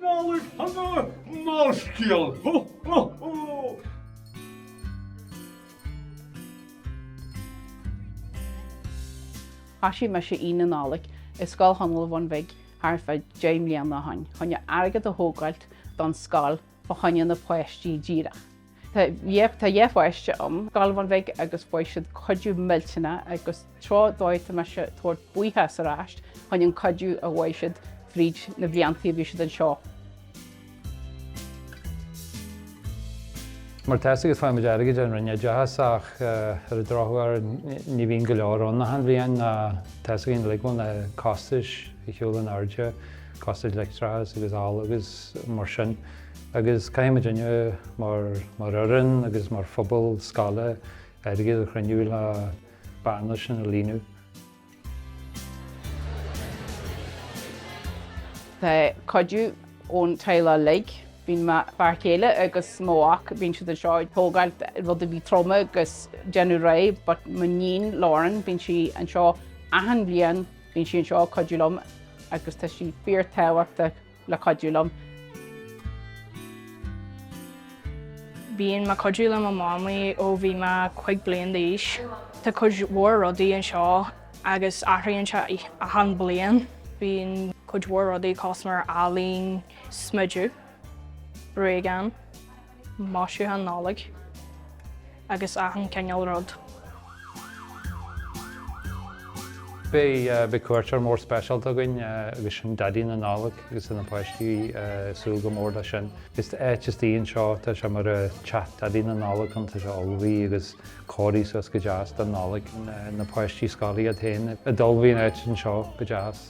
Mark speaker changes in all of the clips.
Speaker 1: Nollaig
Speaker 2: shona ón scoil! Ho ho ho! Thosaigh mise Aonach Nollag i Scoil Chonaill an Bhun Bhig thart fá deich mbliana ó shoin chun airgead a thógáilt don scoil fá choinne na páistí díreach. Tá dhá pháiste a'm, i Scoil Bhun Bhig agus fuair siad cuidiú millteanach agus tráth dóigh tá mise a' tabhairt buíochas ar ais fá choinne an cuidiú a fuair siad fríd na bliantaí a bhí siad anseo.
Speaker 3: Mar atá 's agat faighimid airgead ón Roinn Oideachais ach ar an drochuair ní bhíonn go leor ann achan bhliain ná tá 's againn uilig go bhfuil na costais ar shiúl in airde, costais leictreachais agus ola agus mar sin. Agus caithfimidinne, mar fhoireann agus mar phobal scoile, airgead a chruinniú le bearna sin a líonadh.
Speaker 2: Tá cuidiú ón teaghlach uilig. Bíonn mo fear céile agus mo mhac, bíonn siad anseo ag tógáilt rudaí troma agus déanamh réidh. But m'iníon Lauren, bíonn sí anseo achan bhliain, bíonn sí anseo ag cuidiú liom agus tá sí fíor tábhachtach. le cuidiú
Speaker 4: liom. Bíonn mé cuidiú le mo mamaí ó bhí mé cúig bliain d'aois. Tá cuid mhór rudaí anseo agus athraíonn sé achan bliain. Bíonn cuid mhór rudaí cosmar ealaín, smideadh, bréagáin. maisiúcháin Nollag agus achan cineál
Speaker 3: rud. Beidh cuairteoir mór speisialta againn agus sin Daidí na Nollag agus tá na páistí ag súil go mór leis sin. Is áit istigh anseo, tá sé mar teach Daidí na Nollag ann, tá sé ullmhaithe agus cóirithe suas go deas don Nollaig. Na páistí scoile iad féin a d'ullmhaigh an áit anseo go deas.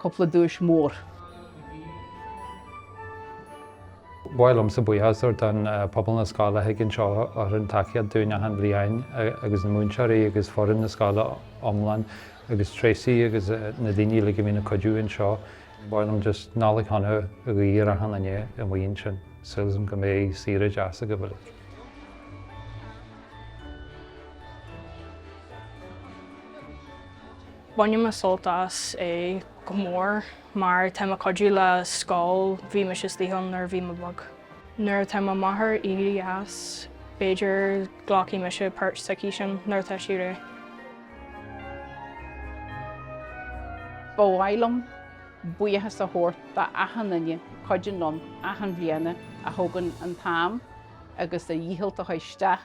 Speaker 2: Cúpla duais
Speaker 3: mhór. Mhaith liomsa buíochas a thabhairt don pobal na scoile a thig anseo a thugann tacaíocht dúinn achan bhliain agus na múinteoirí agus foireann na scoile iomlán agus Tracey agus na daoine uilig a bhíonn ag cuidiú anseo. Mhaith liom just Nollaig Shona a ghuí ar achan duine a mhaíonn sin. Súil agam go mbeidh saoire deas agaibh uilig.
Speaker 4: Baineann mé sult as é go mór mar tá mé ag cuidiú le scoil, bhí mise istigh ann nuair a bhí mé beag. Nuair atá mo máthair aoibhinn dheas, b'fhéidir glacfaidh mise páirt sa ciseán nuair atá sí
Speaker 2: réidh. Ba mhaith liom buíochas a thabhairt do achan duine a chuidíonn liom achan bhliana, a thugann an t-am agus a dhícheall isteach